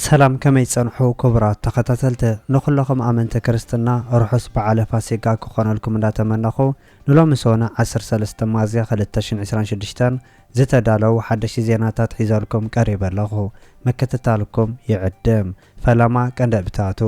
ሰላም ከመይ ትጸንሑ ኩቡራት ተኸታተልቲ ንኹለኹም ኣመንቲ ክርስትና ርሑስ በዓለ ፋሲጋ ክኾነልኩም እንዳተመነኹ ንሎሚ ሰኑዕ ዓሰርተ ሰለስተ ሚያዝያ ክልተ ሽሕን ዕስራን ሽዱሽተን ዝተዳለዉ ሓደሽቲ ዜናታት ሒዘልኩም ቀሪበ ኣለኹ ምክትታልኩም ይዕድም ፈለማ ቀንደብታቱ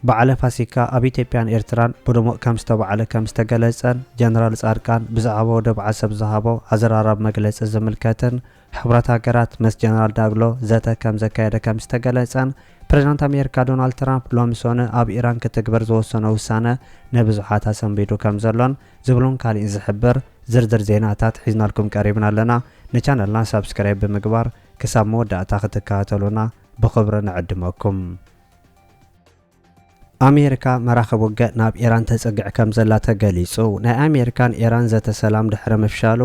በዓለ ፋሲካ ኣብ ኢትዮጵያን ኤርትራን ብድሙቕ ከም ዝተባዕለ ከም ዝተገለጸን ጀነራል ጻድቃን ብዛዕባ ወደብ ዓሰብ ዝሃቦ ኣዘራራቢ መግለጺ ዝምልከትን ሕቡራት ሃገራት ምስ ጀነራል ዳግሎ ዘተ ከም ዘካየደ ከም ዝተገለጸን ፕሬዝዳንት ኣሜሪካ ዶናልድ ትራምፕ ሎሚ ሶኑይ ኣብ ኢራን ክትግበር ዝወሰኖ ውሳነ ንብዙሓት ኣሰንቢዱ ከም ዘሎን ዝብሉን ካሊእን ዝሕብር ዝርዝር ዜናታት ሒዝናልኩም ቀሪብና ኣለና ንቻነልና ሳብስክራይብ ብምግባር ክሳብ መወዳእታ ክትከታተሉና ብኽብሪ ንዕድመኩም። ኣሜሪካ መራኽብ ውግእ ናብ ኢራን ተጽግዕ ከምዘላ ተገሊጹ። ናይ ኣሜሪካን ኢራን ዘተ ሰላም ድሕሪ ምፍሻሉ፣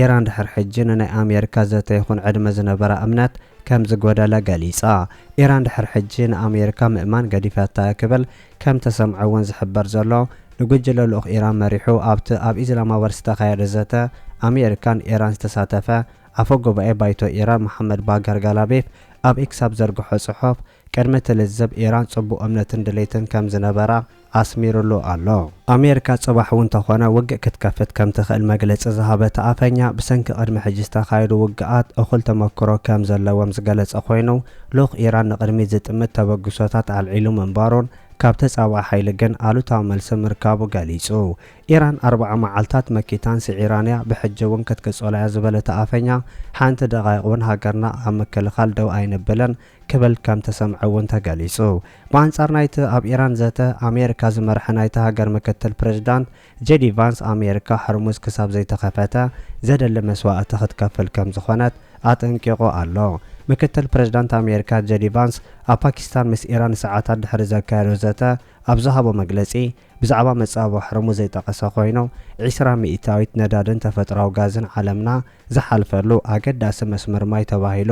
ኢራን ድሕሪ ሕጂ ንናይ ኣሜሪካ ዘተ ይኹን ዕድመ ዝነበራ እምነት ከምዝጎደለ ገሊጻ። ኢራን ድሕሪ ሕጂ ንኣሜሪካ ምእማን ገዲፋታ'ያ ክብል ከምተሰምዐ'ውን ዝሕበር ዘሎ፣ ንጉጅለ ልኡኽ ኢራን መሪሑ ኣብቲ ኣብ ኢዝላማባድ ዝተኻየደ ዘተ ኣሜሪካን ኢራን ዝተሳተፈ ኣፈ ጉባኤ ባይቶ ኢራን መሓመድ ባገር ጋላቤፍ ኣብ ኤክስ ኣብ ዘርግሖ ጽሑፍ ቅድሚ እቲ ልዝብ ኢራን ጽቡቕ እምነትን ድሌትን ከም ዝነበራ ኣስሚሩሉ ኣሎ። ኣሜሪካ ጽባሕ እውን ተኾነ ውግእ ክትከፍት ከም ትኽእል መግለጺ ዝሃበ እቲ ኣፈኛ፣ ብሰንኪ ቅድሚ ሕጂ ዝተኻየዱ ውግኣት እኹል ተመክሮ ከም ዘለዎም ዝገለጸ ኮይኑ፣ ልኡኽ ኢራን ንቕድሚት ዝጥምት ተበግሶታት ኣልዒሉ ምንባሩን ካብ ተጻባኢ ሓይሊ ግን ኣሉታዊ መልሲ ምርካቡ ገሊጹ። ኢራን ኣርብዓ መዓልታት መኪታን ስዒራን እያ፣ ብሕጂ እውን ክትቅጽሎ እያ ዝበለ እቲ ኣፈኛ፣ ሓንቲ ደቓይቕ እውን ሃገርና ኣብ ምክልኻል ደው ኣይንብልን፣ ክብል ከም ተሰምዐ እውን ተገሊጹ። ብኣንጻር ናይቲ ኣብ ኢራን ዘተ ኣሜሪካ ዝመርሐ ናይታ ሃገር ምክትል ፕሬዝዳንት ጄዲ ቫንስ ኣሜሪካ ሕርሙዝ ክሳብ ዘይተኸፈተ ዘድሊ መስዋእቲ ክትከፍል ከም ዝኾነት ኣጠንቂቑ ኣሎ። ምክትል ፕሬዝዳንት ኣሜሪካ ጄዲ ቫንስ ኣብ ፓኪስታን ምስ ኢራን ሰዓታት ድሕሪ ዘካየዶ ዘተ ኣብ ዝሃቦ መግለጺ ብዛዕባ መጻብቦ ሕርሙዝ ዘይጠቐሰ ኮይኑ ዒስራ ሚኢታዊት ነዳድን ተፈጥሮኣዊ ጋዝን ዓለምና ዝሓልፈሉ ኣገዳሲ መስመር ማይ ተባሂሉ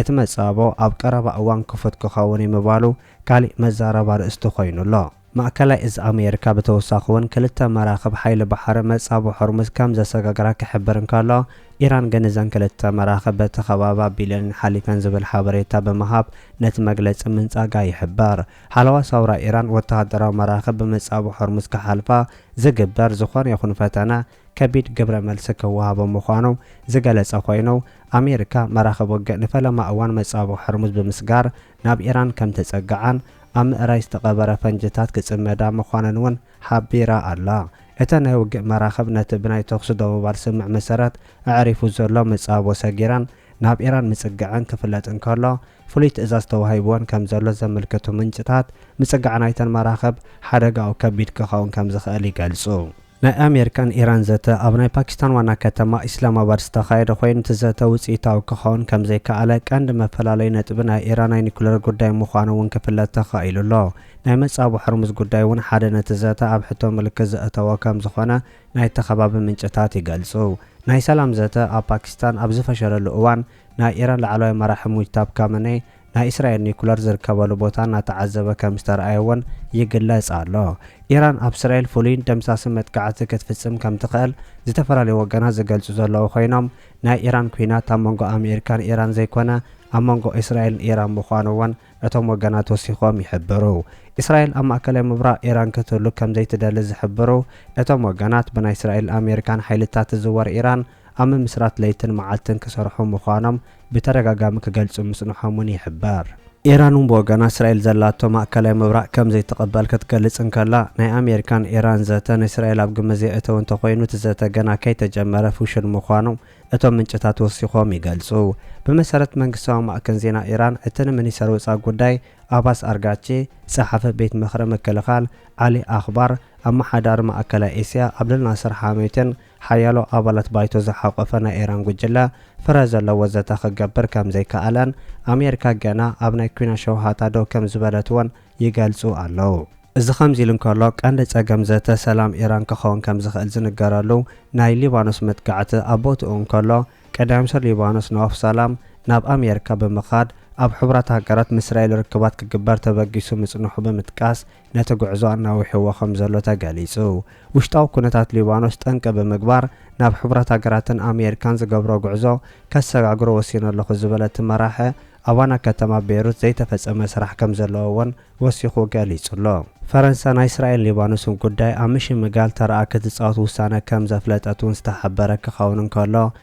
እቲ መጻብቦ ኣብ ቀረባ እዋን ክፉት ክኸውን'ዩ ምባሉ ካሊእ መዛረቢ ኣርእስቲ ኮይኑ ኣሎ። ማእከላይ እዝ ኣሜሪካ ብተወሳኺ'ውን ክልተ መራኽብ ሓይሊ ባሕሪ መጻብቦ ሆርሙዝ ከምዘሰጋግራ ክሕብር እንከሎ፣ ኢራን ግን እዘን ክልተ መራኽብ በቲ ከባቢ ኣቢለንን ሓሊፈን ዝብል ሓበሬታ ብምሃብ ነቲ መግለጺ ምንጻጋ ይሕበር። ሓለዋ ሰውራ ኢራን ወተሃደራዊ መራኽብ ብመጻብቦ ሆርሙዝ ክሓልፋ ዝግበር ዝኾነ ይኹን ፈተነ ከቢድ ግብረ መልሲ ክወሃቦም ምዃኑ ዝገለጸ ኮይኑ፣ ኣሜሪካ መራኽብ ውግእ ንፈለማ እዋን መጻብቦ ሆርሙዝ ብምስጋር ናብ ኢራን ከምተጸግዓን ኣብ ምእራይ ዝተቐበረ ፈንጂታት ክጽመዳ ምዃነን'ውን ሓቢራ ኣላ። እተን ናይ ውግእ መራኽብ ነቲ ብናይ ተኹሲ ደው ምባል ስምምዕ መሰረት ኣዕሪፉ ዘሎ መጻብቦ ሰጊረን ናብ ኢራን ምጽግዐን ክፍለጥ እንከሎ፣ ፍሉይ ትእዛዝ ተዋሂቡወን ከምዘሎ ዘምልክቱ ምንጭታት፣ ምጽጋዕ ናይተን መራኽብ ሓደጋኡ ከቢድ ክኸውን ከምዝኽእል ይገልጹ። ናይ ኣሜሪካን ኢራን ዘተ ኣብ ናይ ፓኪስታን ዋና ከተማ ኢስላማባድ ዝተኻየደ ኮይኑ እቲ ዘተ ውፅኢታዊ ክኸውን ከምዘይከኣለ ቀንዲ መፈላለዩ ነጥቢ ናይ ኢራን ናይ ኒኩለር ጉዳይ ምዃኑ እውን ክፍለጥ ተኻኢሉ ኣሎ። ናይ መፃብቦ ሖርሙዝ ጉዳይ እውን ሓደ ነቲ ዘተ ኣብ ሕቶ ምልክት ዘእተዎ ከምዝኾነ ናይቲ ከባቢ ምንጭታት ይገልፁ። ናይ ሰላም ዘተ ኣብ ፓኪስታን ኣብ ዝፈሸለሉ እዋን ናይ ኢራን ላዕለዋይ መራሒ ሙጅታብ ካመነይ ናይ እስራኤል ኒኩለር ዝርከበሉ ቦታ እናተዓዘበ ከም ዝተርኣየ'ውን ይግለጽ ኣሎ። ኢራን ኣብ እስራኤል ፍሉይን ደምሳስን መጥቃዕቲ ክትፍጽም ከም ትኽእል ዝተፈላለዩ ወገናት ዝገልጹ ዘለዉ ኮይኖም፣ ናይ ኢራን ኲናት ኣብ መንጎ ኣመሪካን ኢራን ዘይኮነ ኣብ መንጎ እስራኤልን ኢራን ምዃኑ'ውን እቶም ወገናት ወሲኾም ይሕብሩ። እስራኤል ኣብ ማእከላይ ምብራቕ ኢራን ክትህሉ ከም ዘይትደሊ ዝሕብሩ እቶም ወገናት፣ ብናይ እስራኤልን ኣመሪካን ሓይልታት ትዝወር ኢራን ኣብ ምምስራት ለይትን መዓልትን ክሰርሑ ምዃኖም ብተደጋጋሚ ክገልጹ ምጽንሖም'ውን ይሕበር። ኢራን'ውን ብወገና እስራኤል ዘላቶ ማእከላይ ምብራቕ ከም ዘይትቕበል ክትገልጽ እንከላ፣ ናይ ኣሜሪካን ኢራን ዘተ ንእስራኤል ኣብ ግምት ዘየእተወ እንተኾይኑ እቲ ዘተ ገና ከይተጀመረ ፍሹል ምዃኑ እቶም ምንጭታት ወሲኾም ይገልጹ። ብመሰረት መንግስታዊ ማዕከን ዜና ኢራን፣ እቲ ንሚኒስተር ወጻኢ ጉዳይ ኣባስ ኣርጋቺ፣ ጸሓፊ ቤት ምኽሪ ምክልኻል ዓሊ ኣኽባር፣ ኣመሓዳሪ ማእከላይ ኤስያ ዓብደልናስር ሓሜቲን ሓያሎ ኣባላት ባይቶ ዝሓቖፈ ናይ ኤራን ጉጅለ ፍረ ዘለዎ ዘተ ክገብር ከም ዘይከኣለን ኣሜሪካ ገና ኣብ ናይ ኩናት ሸውሃታ ደው ከም ዝበለት'ውን ይገልጹ ኣለዉ። እዚ ከምዚ ኢሉ እንከሎ፣ ቀንዲ ጸገም ዘተ ሰላም ኢራን ክኸውን ከም ዝኽእል ዝንገረሉ ናይ ሊባኖስ መጥቃዕቲ ኣብ ቦትኡ እንከሎ፣ ቀዳማይ ሚኒስተር ሊባኖስ ነዋፍ ሳላም ናብ ኣሜሪካ ብምኻድ ኣብ ሕቡራት ሃገራት ምስ እስራኤል ርክባት ክግበር ተበጊሱ ምጽንሑ ብምጥቃስ፣ ነቲ ጉዕዞ ኣናዊሕዎ ከምዘሎ ተገሊጹ። ውሽጣዊ ኩነታት ሊባኖስ ጠንቂ ብምግባር ናብ ሕቡራት ሃገራትን ኣሜሪካን ዝገብሮ ጉዕዞ ከሰጋግሮ ወሲነ ኣለኹ ዝበለ እቲ መራሒ፣ ኣብ ዋና ከተማ ቤይሩት ዘይተፈጸመ ስራሕ ከምዘለዎ እውን ወሲኹ ገሊጹ'ሎ። ፈረንሳ ናይ እስራኤልን ሊባኖስን ጉዳይ ኣብ ምሽምጋል ተራኣ ክትጻወት ውሳነ ከምዘፍለጠት እውን ዝተሓበረ ክኸውን እንከሎ፣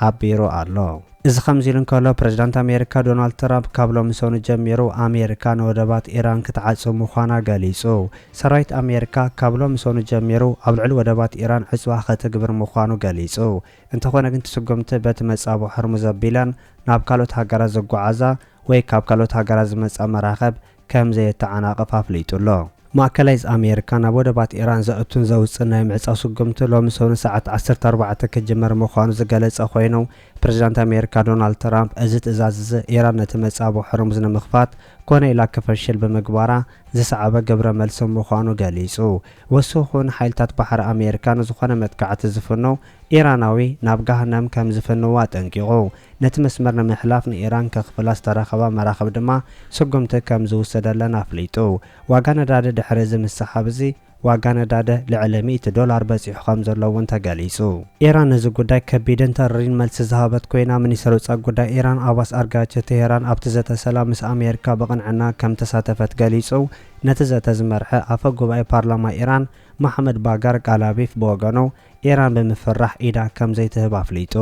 ሓቢሩ ኣሎ። እዚ ከምዚሉ እንከሎ፣ ፕረዚዳንት ኣሜሪካ ዶናልድ ትራምፕ ካብ ሎሚ ሰኑይ ጀሚሩ ኣሜሪካ ንወደባት ኢራን ክትዓጽው ምዃና ገሊጹ። ሰራዊት ኣሜሪካ ካብ ሎሚ ሰኑይ ጀሚሩ ኣብ ልዕሊ ወደባት ኢራን ዕጽዋ ከተግብር ምዃኑ ገሊጹ። እንተኾነ ግን እቲ ስጉምቲ በቲ መጻብቦ ሆርሙዝ ኣቢለን ናብ ካልኦት ሃገራት ዝጓዓዛ ወይ ካብ ካልኦት ሃገራት ዝመጻ መራኽብ ከም ዘየተዓናቕፍ ኣፍሊጡ ኣሎ። ማእከላይዝ ኣሜሪካ ናብ ወደባት ኢራን ዘእቱን ዘውጽእን ናይ ምዕጻው ስጉምቲ ሎሚ ሰኑይ ሰዓት ዓሰርተ ኣርባዕተ ክጅመር ምዃኑ ዝገለጸ ኮይኑ፣ ፕረዚዳንት ኣሜሪካ ዶናልድ ትራምፕ እዚ ትእዛዝ እዚ ኢራን ነቲ መጻብቦ ሖርሙዝ ንምኽፋት ኮነ ኢላ ክፈሽል ብምግባራ ዝሰዓበ ግብረ መልሲ ምዃኑ ገሊጹ። ወሲኹ'ውን ሓይልታት ባሕሪ ኣሜሪካ ንዝኾነ መጥቃዕቲ ዝፍኑ ኢራናዊ ናብ ገሃነም ከም ዝፍንው ኣጠንቂቑ። ነቲ መስመር ንምሕላፍ ንኢራን ከኽፍላ ዝተረኸባ መራኽብ ድማ ስጉምቲ ከም ዝውሰደለን ኣፍሊጡ። ዋጋ ነዳዲ ድሕሪ እዚ ምስሕሓብ እዚ ዋጋ ነዳዲ ልዕሊ ሚእቲ ዶላር በጺሑ ከም ዘሎ እውን ተገሊጹ። ኢራን ነዚ ጉዳይ ከቢድን ተሪርን መልሲ ዝሃበት ኮይና፣ ሚኒስተር ወጻኢ ጉዳይ ኢራን ኣባስ ኣርጋቺ ቴህራን ኣብቲ ዘተ ሰላም ምስ ኣሜሪካ ብቕንዕና ከም እተሳተፈት ገሊጹ። ነቲ ዘተ ዝመርሐ ኣፈ ጉባኤ ፓርላማ ኢራን መሓመድ ባጋር ጋላቢፍ ብወገኑ፣ ኢራን ብምፍራሕ ኢዳ ከም ዘይትህብ ኣፍሊጡ።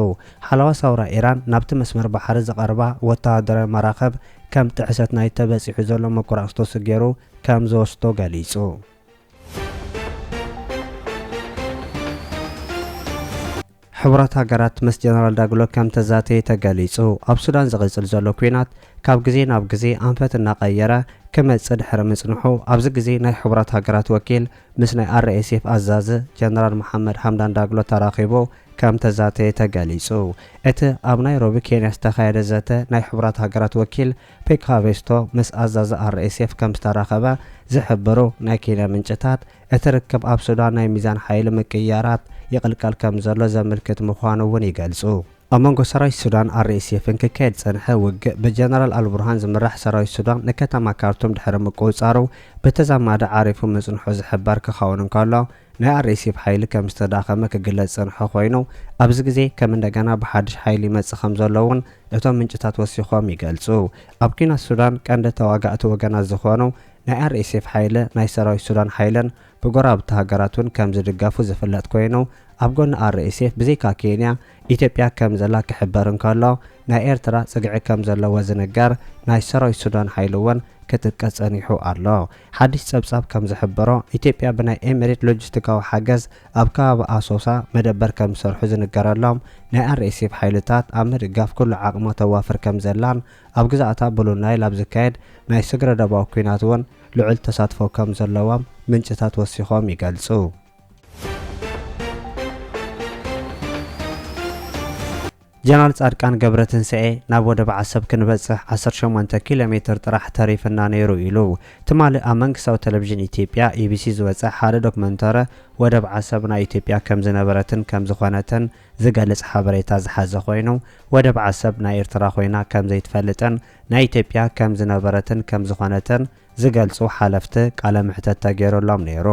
ሓለዋ ሳውራ ኢራን ናብቲ መስመር ባሕሪ ዝቐርባ ወተሃደራዊ መራኽብ ከም ጥሕሰት ናይቲ ተበጺሑ ዘሎ መቆራጽቶሲ ገይሩ ከም ዝወስዶ ገሊጹ። ሕቡራት ሃገራት ምስ ጀነራል ዳግሎ ከም ተዛተየ ተገሊጹ። ኣብ ሱዳን ዝቕጽል ዘሎ ኲናት ካብ ግዜ ናብ ግዜ ኣንፈት እናቐየረ ክመጽእ ድሕሪ ምጽንሑ፣ ኣብዚ ግዜ ናይ ሕቡራት ሃገራት ወኪል ምስ ናይ RSF ኣዛዚ ጀነራል መሓመድ ሓምዳን ዳግሎ ተራኺቡ ከምተዛተየ ተገሊጹ። እቲ ኣብ ናይሮቢ ኬንያ ዝተኻየደ ዘተ ናይ ሕቡራት ሃገራት ወኪል ፔክ ሃቬስቶ ምስ ኣዛዚ RSF ከምዝተራኸበ ዝሕብሩ ናይ ኬንያ ምንጭታት እቲ ርክብ ኣብ ሱዳን ናይ ሚዛን ሓይሊ ምቅይያራት ይቕልቀል ከምዘሎ ዘምልክት ምዃኑ እውን ይገልጹ። ኣብ መንጎ ሰራዊት ሱዳን፣ RSF፣ ን ክካየድ ዝጸንሐ ውግእ፣ ብጀነራል ኣልቡርሃን ዝምራሕ ሰራዊት ሱዳን ንከተማ ካርቱም ድሕሪ ምቁጽጻሩ ብተዛማዲ ዓሪፉ ምጽንሑ ዝሕበር ክኸውን እንከሎ፣ ናይ RSF ሓይሊ ከም ዝተዳኸመ ክግለጽ ዝጸንሖ ኮይኑ፣ ኣብዚ ግዜ ከም እንደገና ብሓድሽ ሓይሊ ይመጽእ ከም ዘሎ እውን እቶም ምንጭታት ወሲኾም ይገልጹ። ኣብ ኲናት ሱዳን ቀንዲ ተዋጋእቲ ወገናት ዝኾኑ ናይ RSF ሓይሊ ናይ ሰራዊት ሱዳን ሓይልን፣ ብጎረባብቲ ሃገራት እውን ከም ዝድገፉ ዝፍለጥ ኮይኑ፣ ኣብ ጎኒ RSF ብዘይካ ኬንያ፣ ኢትዮጵያ ከም ዘላ ክሕበር እንከሎ፣ ናይ ኤርትራ ጽግዒ ከም ዘለዎ ዝንገር ናይ ሰራዊት ሱዳን ሓይሊ እውን ክጥቀስ ጸኒሑ ኣሎ። ሓድሽ ጸብጻብ ከም ዝሕብሮ፣ ኢትዮጵያ ብናይ ኤመሬት ሎጂስቲካዊ ሓገዝ ኣብ ከባቢ ኣሶሳ መደበር ከም ዝሰርሑ ዝንገረሎም ናይ RSF ሓይልታት ኣብ ምድጋፍ ኩሉ ዓቕማ ተዋፍር ከም ዘላን ኣብ ግዝኣታ ብሉ ናይል ኣብ ዝካየድ ናይ ስግረዶባዊ ኲናት እውን ልዑል ተሳትፎ ከም ዘለዎም ምንጭታት ወሲኾም ይገልጹ። ጀነራል ፃድቃን ገብረትንሳኤ ናብ ወደብ ዓሰብ ክንበፅሕ ዓሰርተ ሸሞንተ ኪሎ ሜትር ጥራሕ ተሪፍና ነይሩ ኢሉ። ትማሊ ኣብ መንግስታዊ ቴሌቪዥን ኢትዮጵያ፣ ኢቢሲ፣ ዝወፀ ሓደ ዶክመንተረ ወደብ ዓሰብ ናይ ኢትዮጵያ ከም ዝነበረትን ከም ዝኾነትን ዝገልፅ ሓበሬታ ዝሓዘ ኮይኑ ወደብ ዓሰብ ናይ ኤርትራ ኮይና ከም ዘይትፈልጥን ናይ ኢትዮጵያ ከም ዝነበረትን ከም ዝኾነትን ዝገልጹ ሓለፍቲ ቃለ መሕተት ተገይሩሎም ነይሩ።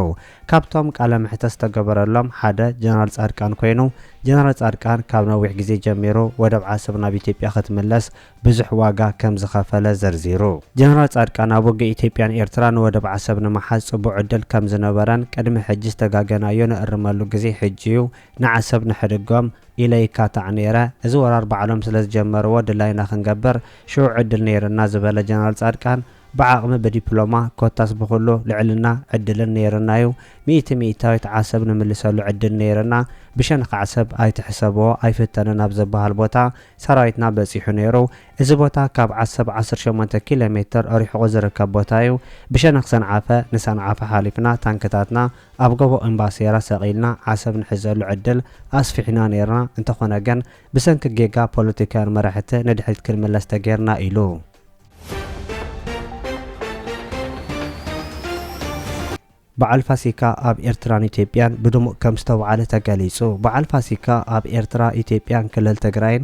ካብቶም ቃለ መሕተት ዝተገበረሎም ሓደ ጀነራል ጻድቃን ኮይኑ፣ ጀነራል ጻድቃን ካብ ነዊሕ ግዜ ጀሚሩ ወደብ ዓሰብ ናብ ኢትዮጵያ ክትምለስ ብዙሕ ዋጋ ከም ዝኸፈለ ዘርዚሩ። ጀነራል ጻድቃን ኣብ ውግእ ኢትዮጵያን ኤርትራን ወደብ ዓሰብ ንምሓዝ ጽቡቕ ዕድል ከም ዝነበረን ቅድሚ ሕጂ ዝተጋገናዮ ንእርመሉ ግዜ ሕጂ'ዩ ንዓሰብ ንሕድጎም ኢለ ይካታዕ ነይረ እዚ ወራር ባዕሎም ስለ ዝጀመርዎ ድላይና ክንገብር ሽዑ ዕድል ነይርና ዝበለ ጀነራል ጻድቃን ብዓቕሚ ብዲፕሎማ ኮታስ ብኹሉ ልዕልና ዕድልን ነይርናዩ ሚእቲ ሚእታዊት ዓሰብ ንምልሰሉ ዕድል ነይርና ብሸንኽ ዓሰብ ኣይትሕሰብዎ ኣይፍተንን ኣብ ዝበሃል ቦታ ሰራዊትና በጺሑ ነይሩ እዚ ቦታ ካብ ዓሰብ ዓሰርተ ሸሞንተ ኪሎ ሜትር ሪሕቑ ዝርከብ ቦታዩ ብሸነኽ ሰንዓፈ ንሰንዓፈ ሓሊፍና ታንክታትና ኣብ ጎቦ እምባሴራ ሰቒልና ዓሰብ ንሕዘሉ ዕድል ኣስፊሕና ነይርና፣ እንተኾነ ግን ብሰንኪ ጌጋ ፖለቲካውያን መራሕቲ ንድሕሪት ክንምለስ ተገይርና ኢሉ። በዓል ፋሲካ ኣብ ኤርትራን ኢትዮጵያን ብድሙቕ ከምዝተብዓለ ተገሊጹ በዓል ፋሲካ ኣብ ኤርትራ፣ ኢትዮጵያን ክልል ትግራይን